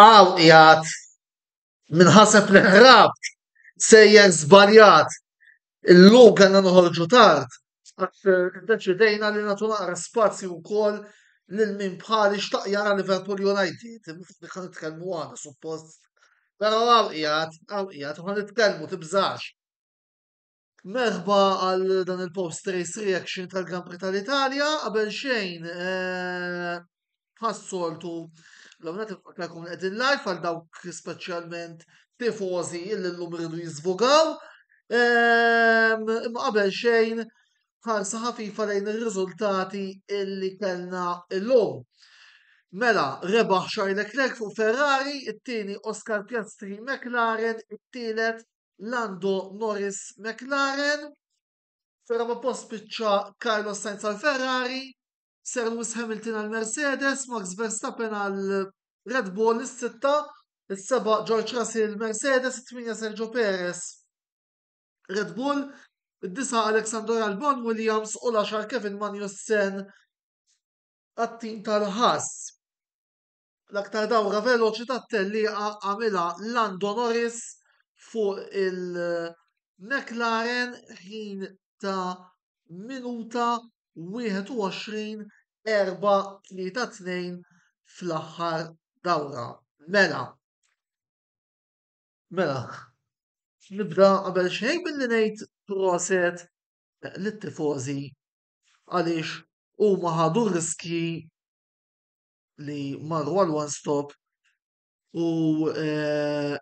Hawn qiegħed minħaseb li ħrabt sejjer żbaljat. Illum kellna noħorġu tard għax iddeċidejna li nagħtu naqra spazju wkoll lil min bħali xtaq jara Liverpool United. Ħa nitkellmu għada suppost. Però hawn qiegħed, hawn qiegħed, ħa nitkellmu tibżax. Merħba għal dan il-post race reaction tal-Grand Prix tal-Italja, qabel xejn eh, ħassoltu l-għamnat il-faklakum għedin live għal dawk specialment tifozi illi l-lum rridu jizvogaw. Ehm, imma qabel xejn ħarsa ħafifa lejn il-rizultati illi kellna l-lum. Mela, rebaħ Charles Leclerc fuq Ferrari, it-tieni Oscar Piastri McLaren, it-tielet Lando Norris McLaren, ferrama post spiċċa Carlos Sainz għal Ferrari, Sir Lewis Hamilton għal Mercedes, Max Verstappen għal Red Bull is-sitta, is-seba' George Russell Mercedes, it-tminja Sergio Perez Red Bull, id-disa Alexander Albon Williams u l-10 Kevin Magnussen għat-tim tal-ħass. L-aktar dawra veloċi tat-tellieqa għamilha Lando Norris fuq il-McLaren ħin ta' minuta 21.432 fl-aħħar dawra. Mela, mela, nibda qabel xejn billi ngħid proset lit-tifożi għaliex huma ħadu riskji li marru għal one stop u eh,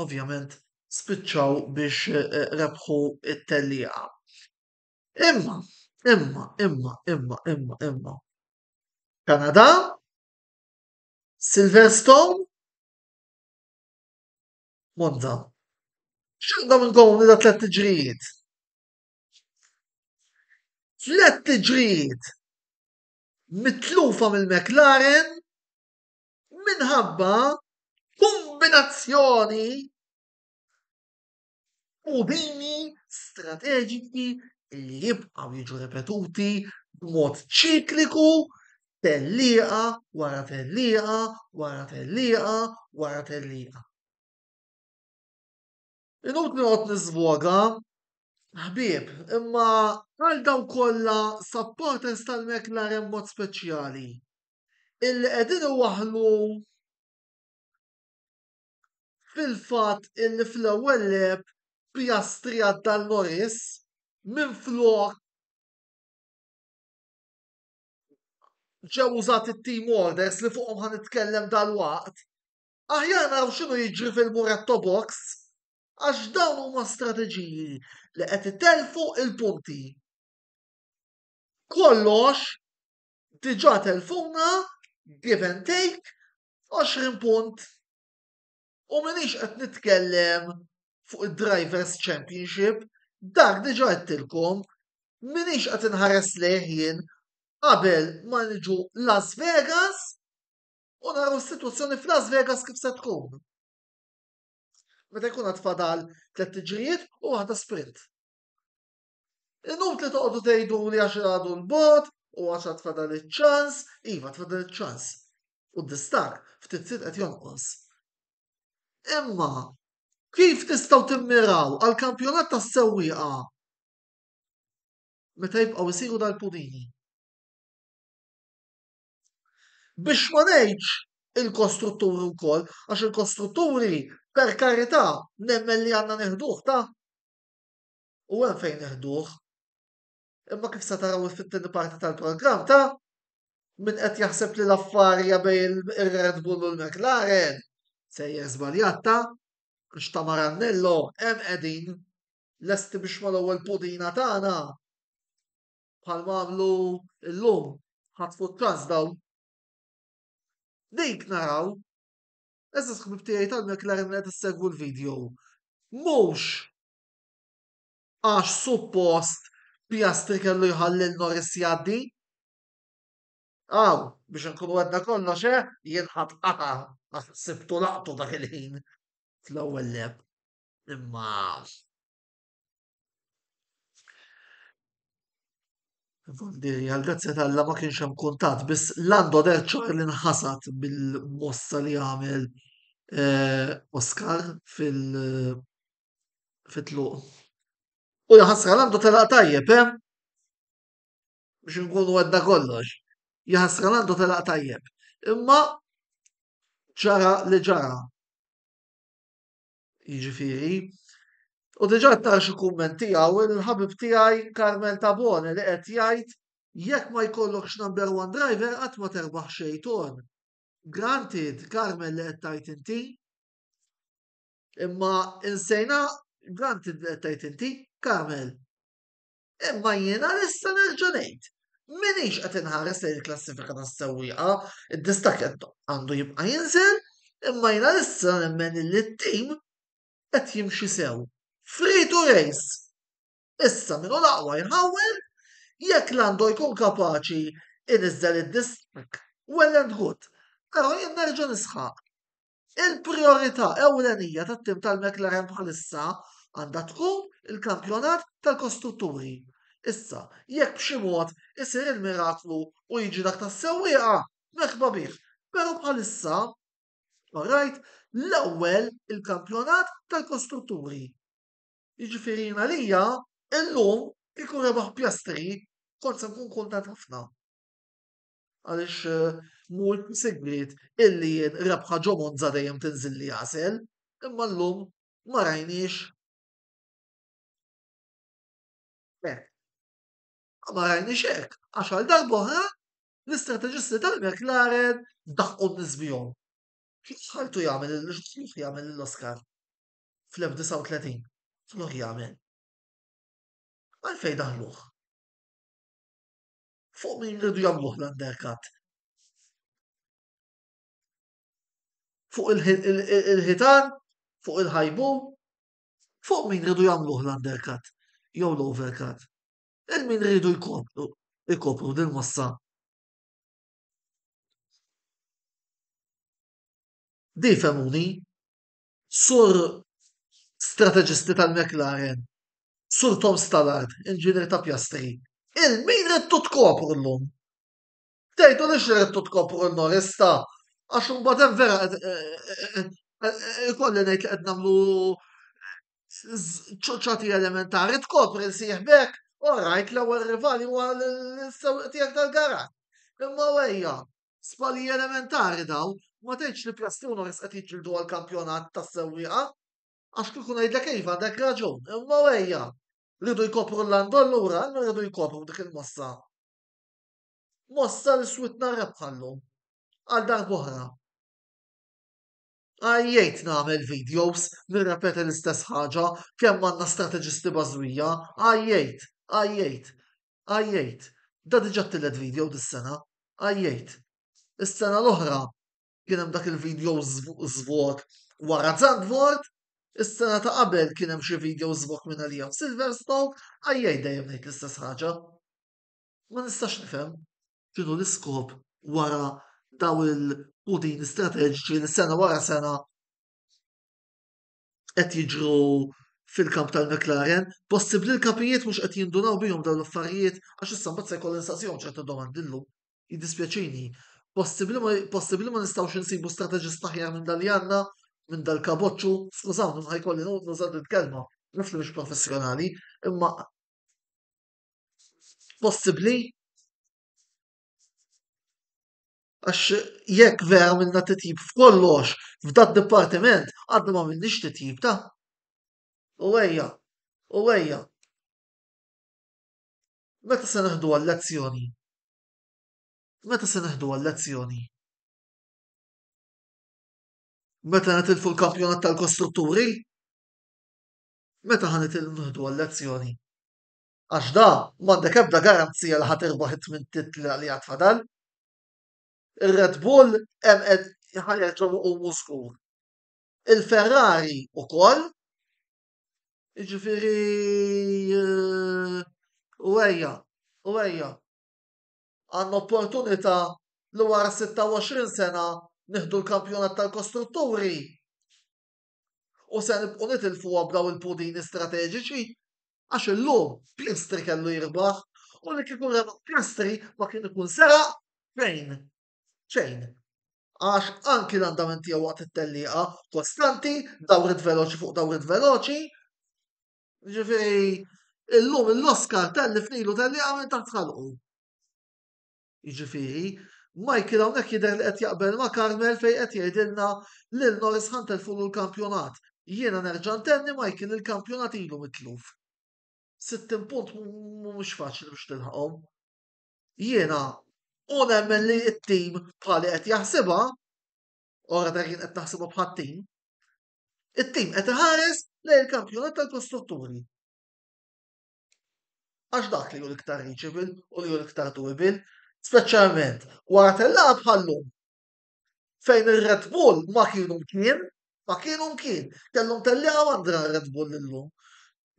ovvjament spiċċaw biex eh, rebħu it-tellieqa. Imma, imma, imma, imma, imma, imma. Kanada, Silverstone, Monza. X'għandhom inkomu li da tlet tiġrijiet? Tlet tiġrijiet mitlufa mill-McLaren minħabba kombinazzjoni u bini strateġiki li jibqaw jiġu repetuti b'mod ċikliku tellieqa wara tellieqa wara tellieqa wara tellieqa. Inutli noqgħod niżvoga, ħbieb, imma għal dawk kollha supporters tal-McLaren b'mod speċjali, illi qegħdin iwaħħlu fil-fatt illi fl-ewwel lap Piastri għadda lil Norris minflok ġew użati t-team orders li fuqhom ħa nitkellem dalwaqt, Aħjar naraw x'inhu jiġri fil-Muretto Box għax dawn huma strateġiji li qed itellfu l-punti. Kollox diġà telfuna give and take 20 punt u minix qed nitkellem fuq id-Drivers Championship, dak diġà għedtilkom, minix qed inħares lejh jien qabel ma niġu Las Vegas U naraw is-sitwazzjoni f'Las Vegas kif se tkun. Meta jkun għad fadal tliet tiġrijiet u waħda sprint. Inutli toqgħodu tgħidu li għax għadu l-bot u għax għad fadal iċ-ċans, iva tfadal iċ-ċans. U d-distak ftit sit qed jonqos. Imma kif tistgħu timmiraw għal kampjonat tas-sewwieqa meta jibqgħu jsiru dal-punini? Biex ma ngħidx il-kostrutturi wkoll, għax il-kostrutturi per karità nemmen li għandna neħduh ta' u hemm fejn neħduh. Imma kif se taraw fit-tieni parti tal-programm ta' min qed jaħseb li l-affarja bejn ir-Red Bull u l-McLaren sejjer żbaljat ta' għax ta' Marannello hemm qegħdin lesti biex mal-ewwel pudina tagħna bħalma għamlu llum ħatfu t-taż dawn. Dik naraw, eżis ħbib tiegħi tal-McLaren qed issegwu l-video. Mhux għax suppost Piastri kellu jħallil Norris jgħaddi. Aw, biex nkunu għedna kollox, eh, jien ħadd qata' għax sibtu laqtu dak il-ħin fl-ewwel leb. Imma Għall-grazzja ta' Alla ma kienx hemm kuntatt, biss Lando del Cior li nħasad bil-mossa li għamel eh, Oscar fil- fit-tluq. U jaħasra Lando telaq tajjeb, eh? Biex nkunu għedna kollox. Jaħasra Lando telaq tajjeb. Imma ġara li ġara. Jiġifieri, u diġà ta xi kumment tiegħu il-ħabib tiegħi Carmel Tabone li qed jgħid jekk ma jkollokx number one driver qatt ma terbaħ xejn ton. Granted, Carmel li qed tgħid inti. Imma insejna granted li qed tgħid inti, Carmel. Imma jiena nista' nerġa' ngħid, m'iniex qed inħares lejn il-klassifika tas-sewwieqa, id-distakk qed għandu jibqa' jinżel, imma jiena issa nemmen illi t-tim qed jimxi sew. Free to race! Issa min hu l-aqwa jħawwel, jekk Lando jkun kapaċi iniżżel id-distakk, well and good, però jien nerġa' nisħaq, Il-prijorità ewlenija tat-tim tal-McLaren bħalissa għandha tkun il-kampjonat tal-kostrutturi. Issa, jekk b'xi mod isir il-miraklu u jiġi dak tas-sewwieqa, merħba bih, però bħalissa, orajt, l-ewwel il-kampjonat tal-kostrutturi. Jiġifieri jien għalija, illum, kieku rebaħ Piastri, kont se nkun kuntent ħafna. Għaliex mhu sigriet illi jien rebħa ġo Monza dejjem tinżilli għasel, imma llum ma rajniex hekk. Ma rajniex hekk għax għal darb'oħra l-istrateġisti tal-McLaren daħqu n-nies bihom. X'ħaltu jagħmel x'ħaltu jagħmel l-Oscar fl-1930? X'ħaltu jagħmel? Għalfejn daħluh? Fuq min rridu jagħmluh l-undercut? Fuq il-ħitan? Fuq il-ħajbu? Fuq min rridu jagħmluh l-undercut? Jew l-overcut? Il-min rridu jkopru, jkopru din massa Di femuni, Sur strateġisti tal-McLaren, Sur Tom Stallard, inġinier ta' Piastri, il min ridtu tkopru llum? Tgħidulix li ridtu tkopru l-Norris ta', għax imbagħad hemm vera ikolli ngħid li qed nagħmlu ċoċjati elementari, tkopri l sieħbek, orajt l-ewwel rivali huwa l-sewwieq tiegħek tal-garaxx. Imma ejja, Żbalji elementari dawn, ma tgħidx li Plastuna biss qed jiġġieldu għall-kampjonat tas-sewwieqa. Għax kieku ngħidlek iva għandek raġun, imma wejja! Riedu jkopru l-Landol lura, imma riedu jkopru dik il-mossa. Mossa li switna rebħa llum. Għal darb'oħra. Għajjejt nagħmel videos, nirrepeti l-istess ħaġa, kemm għandna strateġisti bażwija, għajjejt, għajjejt. għajjejt. Da diġa t-tielet video dis-sena, għajjejt. Is-sena l-oħra kien hemm dak il-video żvot wara Zandvoort, is-sena ta' qabel kien hemm xi video żvok minn għalija f'Silverstone, għajjejt dejjem ngħid l-istess ħaġa. Ma nistax nifhem x'inhu l-iskop wara daw il-pudini strateġiċi li sena wara sena qed jiġru fil-kamp tal-McLaren, possibbli l-kapijiet mhux qed jindunaw bihom dawn l-affarijiet għax issa mbagħad se jkollu nistaqsihom ċertu domandi llum. Jiddispjaċini. Possibbli ma nistgħux insibu strateġist aħjar minn dan li għandna minn dal-kaboċċu, skużawni ma jkolli nuża din kelma, naf li mhux professjonali, imma possibbli Għax jekk vera minna titjib f'kollox, f'dat dipartiment, għadna ma minnix titjib ta'. U ejja, u ejja. Meta se neħduha l-lezzjoni? Meta se neħduha l-lezzjoni? Meta nitilfu l-kampjonat tal-kostrutturi? Meta ħa nitilfu l-lezzjoni? għax da m'għandek ebda garanzija li ħa tirbaħ it-tmien titli li għad fadal. Ir-Red Bull hemm qed ħareġhom iqumu żgur. Il-Ferrari ukoll Jiġifieri eh, u ejja, u ejja. Għandna opportunità li wara 26 sena nieħdu l-kampjonat tal-kostrutturi U se nibqgħu nitilfuha b'dawn il-pudini strateġiċi? Għax illum Piastri kellu jirbaħ u li kieku rebaħ Piastri ma kien ikun seraq fejn? Xejn. Għax anki l-andament tiegħu waqt it-tellieqa kostanti, dawrit veloċi fuq dawrit veloċi. Ġifieri illum l-Oscar tellif nilu tellieqa minn taħt ħalqu. Jiġifieri, Michael hawnhekk jidher li qed jaqbel ma' Carmel fejn qed jgħidilna li l-Norse ħa ntelfulu l-kampjonat. Jiena nerġa' ntenni Michael il-kampjonat ilu mitluf. 60 punt mhumiex faċli biex tilħaqhom. Jiena u nemmen li t-tim bħali qed jaħsibha, ora dak jien qed naħsibha bħat-tim, it-tim qed iħares lejn il-kampjonat tal-kostrutturi. Għax dak li hu l-iktar reachable u li hu l-iktar doable, speċjalment wara tellaqgħa bħallum fejn ir-Red Bull ma kienu mkien, ma kienu mkien, kellhom tellaqgħa għandra r-Red Bull illum.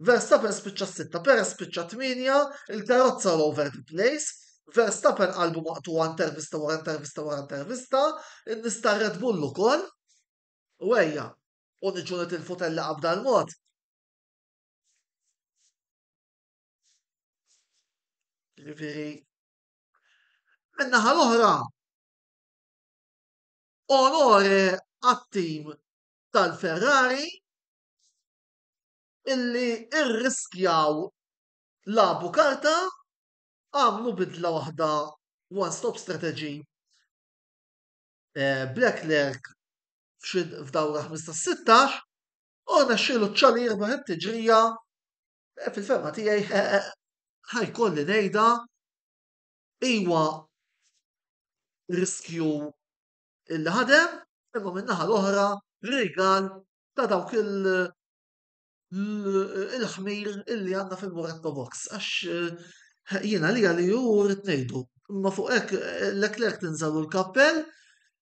Verstappen spiċċa sitta, Perez spiċċa tminja, il-karozza l over the place, Verstappen qalbu maqtu intervista wara intervista wara intervista, nista Red Bull ukoll, u ejja, u niġu nitilfu tellaqgħa b'dal mod. Ġifieri, min-naħa l-oħra, onore għat-tim tal-Ferrari illi rriskjaw lagħbu karta, għamlu bidla waħda one stop strategy b'Leclerc f'dawra 15-16 u rnexxielu ċ-Ċali jirbaħ it-tiġrija, eh, fil-ferma tiegħi eh, eh, ħajkolli ngħidha iwa riskju il ħadem imma min-naħa l-oħra rigal ta' dawk il- il-ħmir illi għanna fil-Moretto Box, għax jiena li għalli ju rrit nejdu. Ma fuq ek l-eklek tinżalu l-kappell,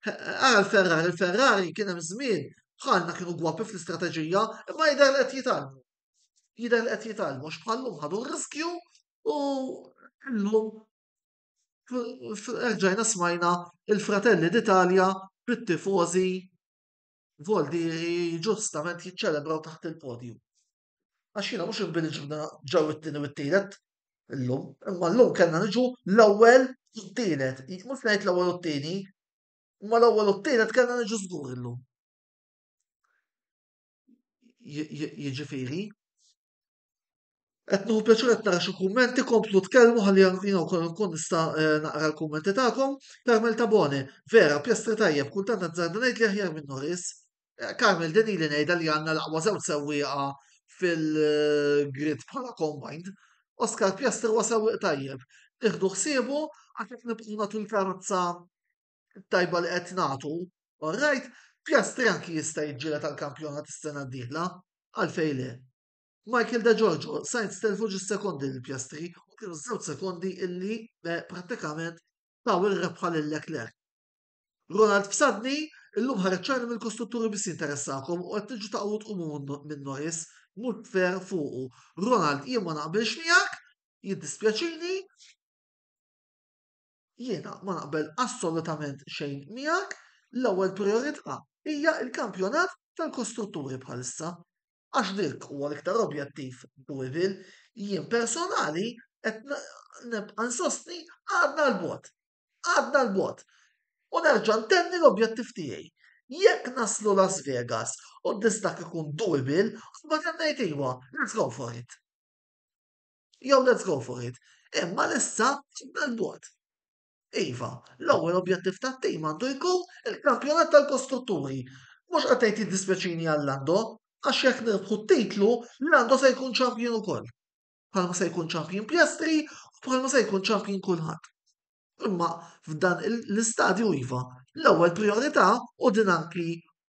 Ara l-Ferrari, il-Ferrari kien hemm żmien bħalna kienu gwapi fl-istrateġija, imma jidher li qed jitgħallmu. Jidher li qed jitgħallmu għax bħallum ħadu r-riskju u llum erġajna smajna il-fratelli d'Italja bit-tifożi Voldieri ġustament jiċċelebraw taħt il-podju. Għax jiena mhux inbini ġibna ġew it-tieni u t-tielet illum, imma llum kellna niġu l-ewwel u t-tielet. Mhux ngħid l-ewwel u t-tieni, imma l-ewwel u t-tielet kellna niġu żgur illum. Jiġifieri, Qed nieħu pjaċir qed nara xi kummenti, komplu tkellmu ħalli jiena wkoll nkun nista' eh, naqra l-kummenti tagħkom. Carmel Tabone, vera, pjastri tajjeb, kultant azzarda ngħid li aħjar minn Norris. Karmel, din ili ngħidha li għandna l-aqwa żewġ sewwieqa fil-grid bħala combined. Oscar Piastri huwa sewwieq tajjeb. Nieħdu ħsiebu għax qed nibqgħu nagħtu l-karozza tajba li qed nagħtu. Alright, Piastri anki jista' jiġġiela tal-kampjonat is-sena d-dieħla. Għalfej le. Michael De Giorgio, Sainz telfu ġis sekondi l-Piastri u kienu żewġ sekondi illi eh, prattikament taw il-rebħa lil Leclerc. Ronald Psadni, illum ħareġ ċar li mill-kostrutturi biss jinteressakom u qed tiġu taqgħu tqumu minn noise mhux fair fuqu. Ronald jien ma naqbilx miegħek, jiddispjaċini, jiena ma naqbel assolutament xejn miegħek, l-ewwel priorità hija l-kampjonat tal-kostrutturi bħalissa. Għax dik huwa l-iktar objettiv Louisville, jien personali qed nibqa' nsostni għadna l-bot Għadna l-bogħod. U nerġa' ntenni l-objettiv tiegħi. Jekk naslu Las Vegas u d-distakk ikun doable, mbagħad qed ngħid iva, let's go for it. Jew let's go for it. Imma l-issa għadna l-bogħod. Iva, l-ewwel objettiv tat-tim għandu jkun il-kampjonat tal-kostrutturi. Mhux qed ngħid jiddispjaċini għal Lando, għax jekk nirbħu t-titlu, Lando se jkun ċampjon ukoll. bħalma se jkun champion Piastri u bħalma se jkun champion kulħadd. Imma f'dan l-istadju iva, l-ewwel priorità u din anki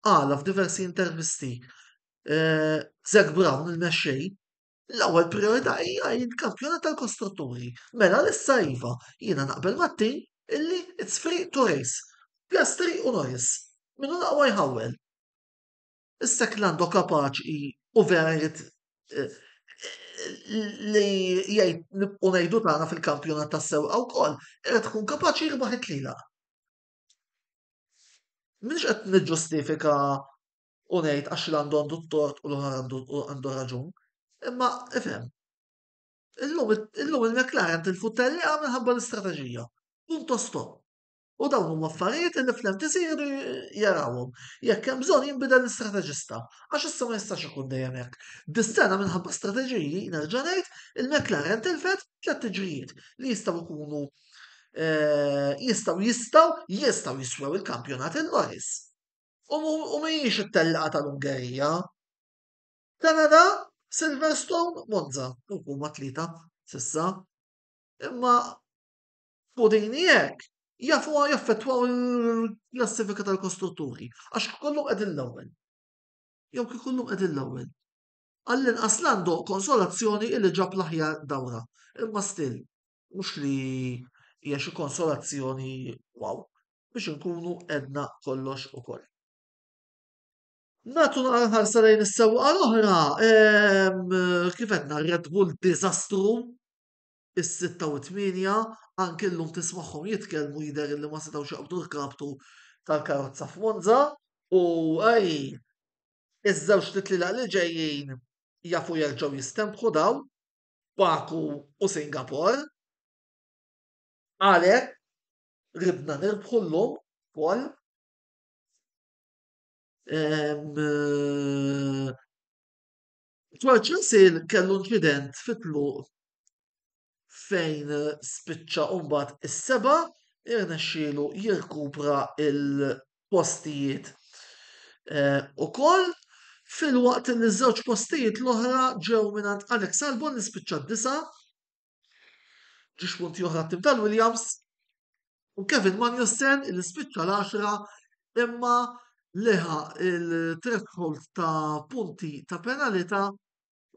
għala f'diversi intervisti eh, Zack Brown il-mexxej l-ewwel priorità hija il-kampjonat tal-kostrutturi. Mela l-issa iva, jiena naqbel mat-tim illi it's free to race. Piastri u Norris. Minu laqwa jħawel. Issa kien għandu kapaċi u vera jrid li jgħid nibqgħu ngħidu tagħna fil-kampjonat tas-sewqa wkoll, irid tkun kapaċi jirbaħ it-tlielaq. Mhux qed niġġustifika u ngħid għax għandu għandu t-tort u l-oħra għandu raġun, imma ifhem. Illum il-McLaren tilfu t-tellieqa minħabba l-istrateġija. Punto stop. U dawn huma affarijiet li fl-MTC jridu jarawhom. Jekk hemm bżonn jinbidel l-istrateġista, għax issa ma jistax ikun dejjem hekk. Dis-sena minħabba strateġiji, nerġa' ngħid, il-McLaren tilfet tliet tiġrijiet li jistgħu jkunu eh, jistgħu jistgħu jistgħu jiswew il-kampjonat il-Norris. U mhijiex it-tellaqgħa tal-Ungerija. Kanada, Silverstone, Monza, huma tlieta sissa. Imma Fuq din jekk jafu jaffettwaw il-klassifika tal-kostrutturi, għax kollu qegħdin l-ewwel. Jew kif kollu qegħdin l-ewwel. Għall-inqas l-għandu konsolazzjoni illi ġab l-aħjar dawra. Imma still, mhux li hija xi konsolazzjoni wow biex inkunu edna kollox ukoll. Natu naqra ħarsa lejn is-sewqa l-oħra, kif qedna Red Bull diżastru, is-sitta u t-tmienja, anke llum tismagħhom jitkellmu jidher illi ma setgħux jaqbdu l-kaptu tal-karozza f'Monza u ej iż-żewġt itlilaq li ġejjin jafu jerġgħu jistenbħu dawn, Baku u Singapore. Għalhekk ridna nirbħu llum ukoll George Russell kellu inċident fit-tluq fejn spiċċa u mbagħad is-seba' irnexxielu jirkupra l-postijiet eh, ukoll filwaqt li ż-żewġ postijiet l-oħra ġew mingħand Alex Albon li spiċċa d-disa' Ġiex punti oħra t-tim tal-Williams u Kevin Magnussen li spiċċa l-10 imma leħa il-threshold ta' punti ta' penalità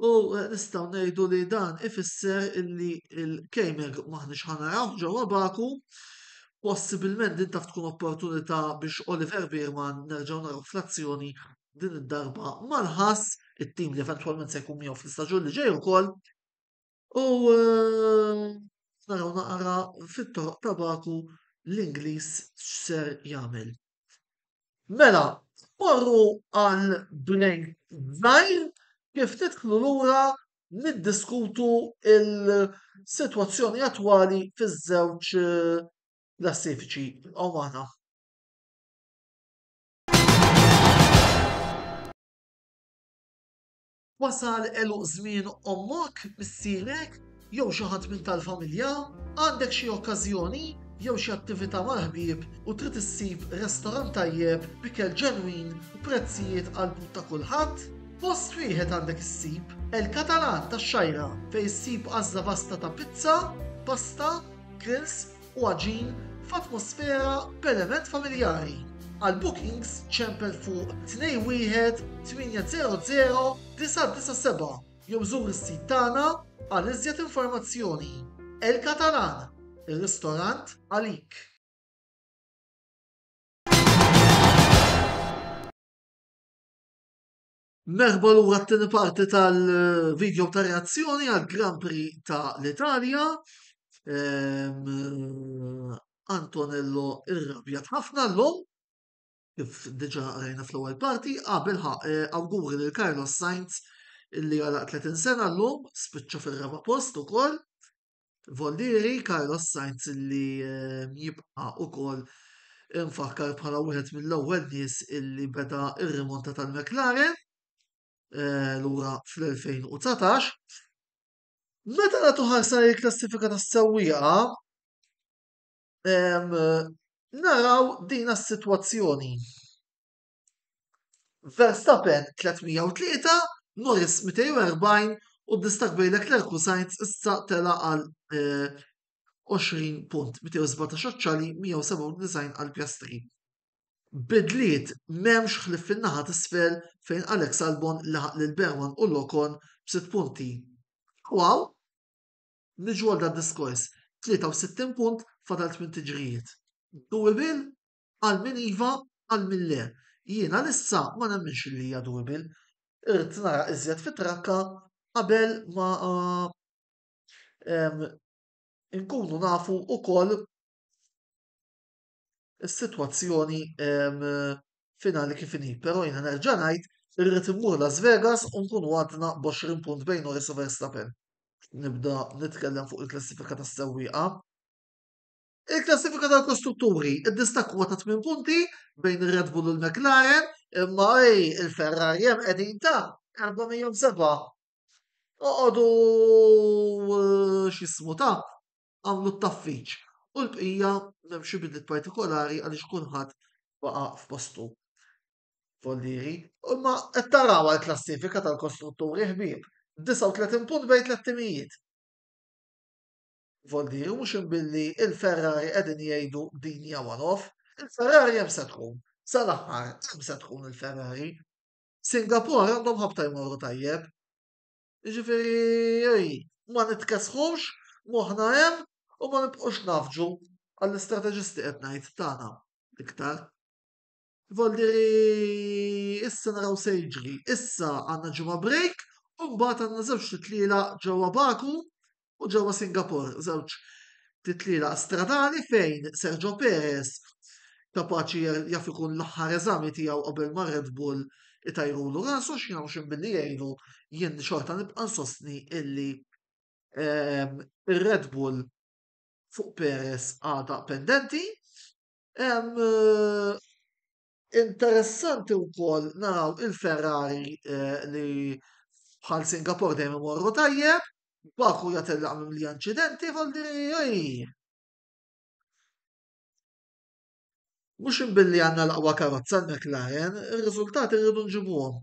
u eh, nistaw nejdu li dan ifisser illi il-Kejmer maħnix ħanaraw ġewwa Baku possibilment din taf tkun opportunità biex Oliver Birman nerġgħu naraw fl-azzjoni din id-darba mal-ħass it-tim li eventwalment se jkun miegħu fl-istaġun li ġej ukoll U naraw naqra fit-toroq ta' Baku l-Ingliż x'ser jagħmel. Mela, morru għal break żgħir kif tidħlu lura niddiskutu il-sitwazzjoni attwali fiż-żewġ klassifiċi. Ibqgħu magħna. Wasal għeluq żmien ommok, missierek, jew xi ħadd minn tal-familja? Għandek xi okkażjoni jew xi attività mal-ħbieb u trid issib restorant tajjeb b'ikel ġenwin u prezzijiet għall-but ta' kulħadd? Post wieħed għandek issib, El Catalan tax-Xgħajra, fejn issib għażla vasta ta' pizza, pasta, grills, u għaġin f'atmosfera b'element familjari. Għal bookings ċempel fuq 218009997 jew żur is-sit tagħna għal iżjed informazzjoni. El Catalan, ir-ristorant għalik. Merħba lura t-tieni parti tal-video ta' reazzjoni għal Grand Prix ta' l-Italja. Ehm, Antonello irrabjat ħafna l-lum, kif diġa rajna fl-ewwel parti, qabel ah, ħaq eh, awguri lil Carlos Sainz illi għala 30 sena l-lum, spiċċa fil-raba post ukoll. Vollieri Carlos Sainz li jibqa' ukoll mfakkar bħala wieħed mill-ewwel nies illi beda r-rimonta tal-McLaren eh, lura fl-2019. Meta nagħtu ħarsa l-klassifika tas-sewwieqa naraw din is-sitwazzjoni. Verstappen 303, Norris 240 u d-distak bejn Leclerc u Sainz issa tela għal 20 eh, punt, 217 oċċali, 197 għal Piastri. Bidliet memx ħlif fin-naħa t-sfel fejn Alex Albon laħaq lil Berman u Lokon b'sitt punti. Wow! Niġu għal da diskors, 63 punt fadal 8 tiġrijiet. Dewey Bill Qal min iva, qal min le. Jien għalissa ma nemminx li hija doable. Irrid nara iżjed fit-trakka qabel ma nkunu nafu wkoll is-sitwazzjoni finali kif inhi. Però jiena nerġa' ngħid irrid immur Las Vegas u nkunu għadna b'għoxrin punt bejn Norris u Verstappen. Nibda nitkellem fuq il-klassifika tas-sewwieqa. Il-klassifika tal-kostrutturi ddistakwa ta' tmien punti bejn ir-Red Bull u l-McLaren imma ej il-Ferrari hemm qegħdin ta' 407. Oqogħdu x'jismu ta' għamlu t-taffiċ u l-bqija m'hemm xi bidliet partikolari għaliex kulħadd baqa' f'postu. Follieri, imma qed taraw għall-klassifika tal-kostrutturi ħbieb, 39 punt bejn tliet timijiet. Voldi u mhux imbilli il-Ferrari qegħdin jgħidu din hija one off. Il-Ferrari hemm se tkun. Sal-aħħar hemm se tkun il-Ferrari. Singapore għandhom ħabta jmorru tajjeb. Jiġifieri ma nitkesħux, moħħna hemm u ma nibqgħux nafġu għall-istrateġisti qed ngħid tagħna l-iktar. Ivolli li issa naraw se jiġri. Issa għandna ġimgħa break u mbagħad għandna żewġ titliela ġewwa Baku u ġewwa Singapore, żewġ titliela stradali fejn Sergio Perez kapaċi jaf ikun l-aħħar eżami tiegħu qabel ma' Red Bull itajrulu rasu x'jien hawn xejn billi jgħinu jien xorta nibqa' nsostni illi ehm, ir-Red Bull fuq Perez għadha pendenti Hemm interessanti wkoll naraw il-Ferrari eh, li bħal Singapore dejjem imorru tajjeb, Baku jatellaq minn li inċidenti għal diri. Mhux imbilli għandna l-aqwa karozza l-McLaren, ir-riżultati rridu nġibuhom.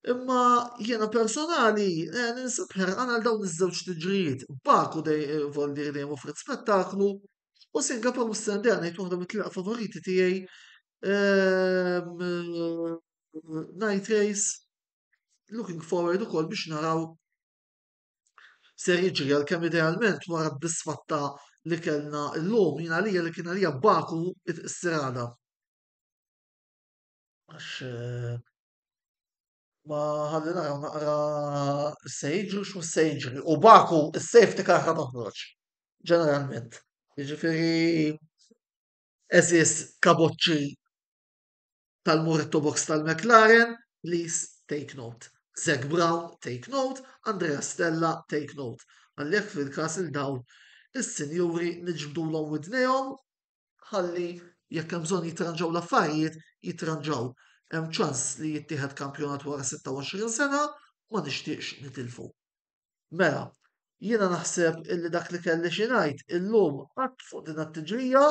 Imma jiena personali eh, ninsab ħerqan għal dawn iż-żewġ tiġrijiet. Baku dej eh, Voldir dejjem offret spettaklu u Singapore u Sendea ngħid waħda mit-tliqa favoriti tiegħi ehm, eh, Night Race looking forward ukoll biex naraw ser jiġri għal kemm idealment wara bisfatta li kellna llum jien għalija li kien għalija Baku it-sirada. għax ma ħalli naraw naqra se jiġri x'mu se jiġri. U baku s-safety car ħa toħroġ, ġeneralment. Jiġifieri eżis kaboċċi tal-Muretto Box tal-McLaren, please take note. Zac Brown, take note. Andrea Stella, take note. Għallek fil-kas il-dawl, is-sinjuri nġbdulhom widnejhom ħalli jekk hemm bżonn jitranġaw l-affarijiet, jitranġaw. Hemm ċans li jittieħed kampjonat wara 26 sena, ma nixtieqx nitilfu. Mela, jiena naħseb illi dak li kelli xi ngħid illum qatt fuq din t-tiġrija,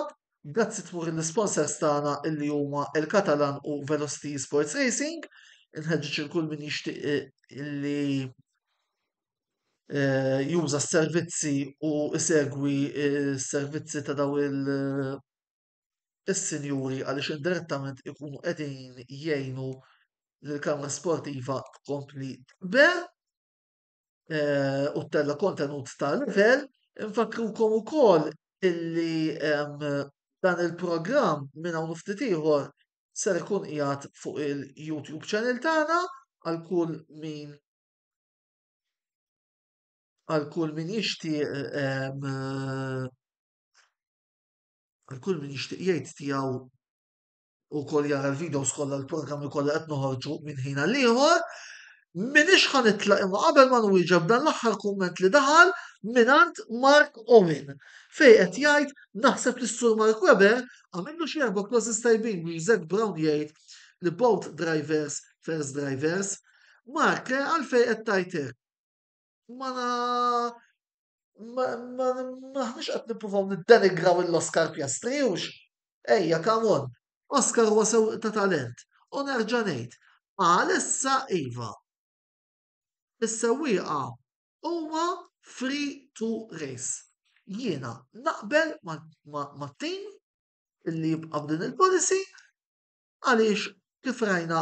grazzi tmur lill-isponsors tagħna illi huma il-Catalan u Velocity Sports Racing, inħeġġeġ lil kull min jixtieq illi eh, juża s-servizzi u isegwi s-servizzi ta' daw il- eh, is-sinjuri għaliex indirettament ikunu qegħdin jgħinu l-kamra sportiva tkompli tber eh, u tella kontenut ta' level. Infakrukom ukoll illi dan il-programm minn hawn ftit ieħor ser ikun qiegħed fuq il-YouTube channel tagħna għal kull min għal kull min jixtieq għal kull min jixtieq jgħid tiegħu u kol jara l-videos kollha l-programmi kollha qed noħorġu minn ħin għal ieħor. Minix ħan itlaq imma qabel ma nwieġeb dan l-aħħar kumment li daħal minant Mark Owen fej qed jgħid naħseb li s-sur Mark Weber għamillu xi erba' closes tajbin biex Zack Brown jgħid li both drivers first drivers Mark, għalfejn qed tgħid hekk? Ma maħniex qed nippruvaw niddenigraw l-Oscar Piastri hux? Ejja, come on. Oscar huwa sewwieq ta' talent. U nerġa' ngħid, għalissa iva. Is-sewwieqa huma free to race. Jiena naqbel mat-tim illi jibqa' b'din il-policy għaliex kif rajna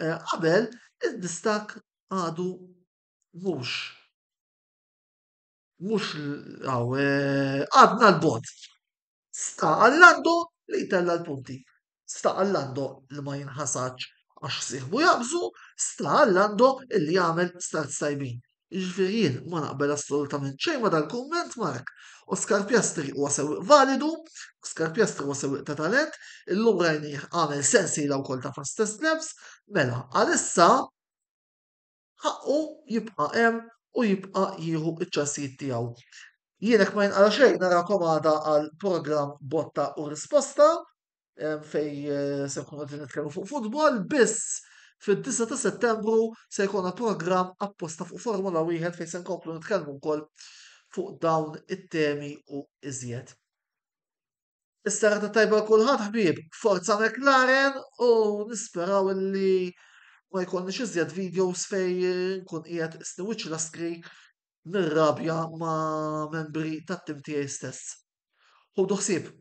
eh, qabel id-distakk għadu mhux mhux eh, għadna l-bot. Sta għallando li jtella l-punti. Sta għallando li ma jinħasaċ għax siħbu jabżu, sta għallando illi jagħmel start sajbin. Jiġifieri jien ma naqbel assolutament xejn ma' dal-kumment, Mark. Oscar Piastri huwa sewwieq validu, Oscar Piastri huwa sewwieq ta' talent, illum rajnih għamel sensiela wkoll ta' fastest laps, mela għalissa ħaqqu jibqa' hemm u jibqa' jieħu ċ-ċansijiet tiegħu. Jien hekk ma jinqala xejn narakom għada għal programm botta u risposta. fej se nkunu qegħdin nitkellmu fuq futbol biss fid-9 ta' Settembru se jkollna programm apposta fuq Formula wieħed fejn se nkomplu nitkellmu wkoll fuq dawn it-temi u iżjed. Is-sara ta' tajba kulħadd ħbieb, forza McLaren u nisperaw li ma jkollniex iżjed videos fej nkun qiegħed isniwiċ laskri nirrabja ma' membri tat-tim tiegħi stess. Ħudu ħsieb!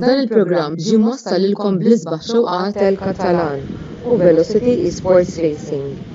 Dan il-programm ġie mwassal lilkom bl-isbaħ xewqat tal-Katalan u Velocity Esports Racing.